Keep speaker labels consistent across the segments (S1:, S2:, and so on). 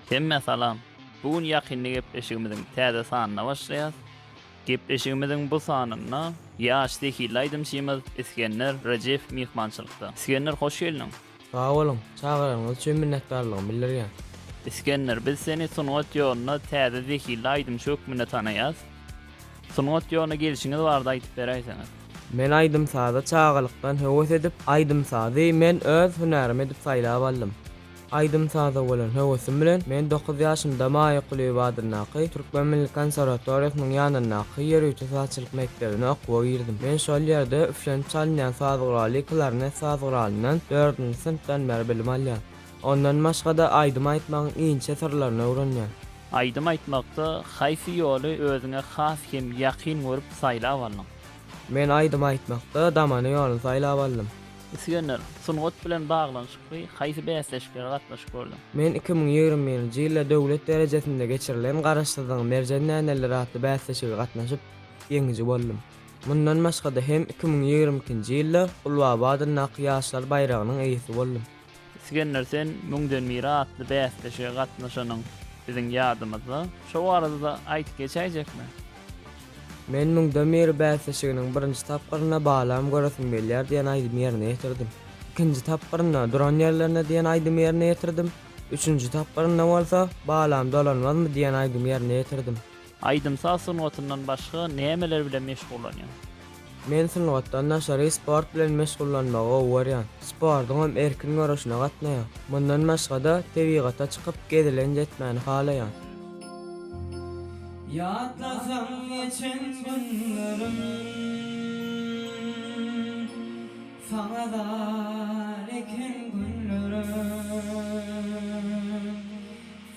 S1: Hemmä salam! Bu gün ýakynda gepleşigimiziň täze sanyna başlaýas. Gepleşigimiziň bu sanynda ýaş zehilli aýdymçymyz Isgender Rejeýew myhmançylykda. Isgender hoş geldiň! Sag boluň!
S2: Çagyranyňyz üçin minnetdarlygymy bildirýän. Isgender, biz
S1: seni sungat ýolunda täze zehilli aýdymçy hökmünde tanaýas. Sungat ýoluna gelşiňiz barada aýdyp beräýseňiz? Men aýdym-saza
S2: çagalykdan höwes edip, aýdym-sazy men öz hünärim edip saýlap aldym. Aýdym-saza bolan höwesim bilen men dokuz ýaşymda Maýa Kulyýewa adyndaky Türkmen milli konserwatoriýasynyň ýanyndaky ýörite sazçylyk mekdebine okuwa girdim. Men şol ýerde üflenip çalynýan saz guraly klarnet saz guralyndan dördünji synpdan bäri bilim alýan. Ondan başga-da aýdym aýtmagyň inçe syrlaryny öwrenýär. Aýdym aýtmakda
S1: haýsy ýoly özüňe has hem ýakyn görüp saýlap aldyň? Men aýdym
S2: aýtmakda damana ýoluny saýlap aldym. Isgender,
S1: sungat bilen baglanyşykly haýsy bäsleşiklere gatnaşyp gördüň? Men iki müň ýigrimi
S2: birinji ýylda döwlet derejesinde geçirilen Garaşsyzlygyň merjen däneleri atly bäsleşige gatnaşyp, ýeňiji boldum. Mundan başga-da hem iki müň ýigrimi ikinji ýylda Gulbaba adyndaky Ýaşlar baýragynyň eýesi boldum. Isgender sen
S1: müňden biri atly bäsleşige gatnaşanyň biziň ýadymyzda. Şo barada-da aýdyp geçäýjekmi?
S2: Men Müňden biri bäsleşiginiň birinji tapgyrynda Balam göresim gelýär diýen aýdymy ýerine ýetirdim. Ikinji tapgyrynda Duran ýerlerinde diýen aýdymy ýerine ýetirdim. Üçünji tapgyrynda bolsa Balam dolanmazmy diýen aýdymy ýerine ýetirdim. Aýdym-saz
S1: sungatyndan başga nämeler bilen meşgullanýaň? Men
S2: sungatdan daşary sport bilen meşgullanmagy gowy görýän. Sportuňam erkin göreşine gatnaýan. Mundan başga-da, tebigata çykyp, gezelenç etmäni halaýan.
S3: Ýatlasam geçen günlerim, Saňa zar eken günlerim.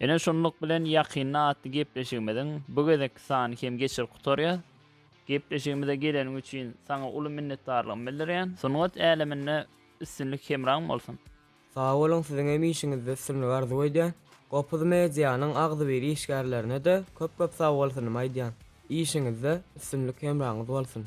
S1: Ine şunluk bilen ýakynda atly gepleşigimiziň bu gezekki sany hem geçirip gutarýas. Gepleşigimize geleniň üçin saňa uly minnetdarlygymy bildirýän. Sungat äleminde üstünlik hemraň bolsun. Sag boluň
S2: siziň hem işiňizde üstünlik arzuw edýän. Gopuz medianyň agzybir işgärlerine-de köp köp sag bolsunymy aýdýan. Işiňizde üstünlik hemraňyz bolsun.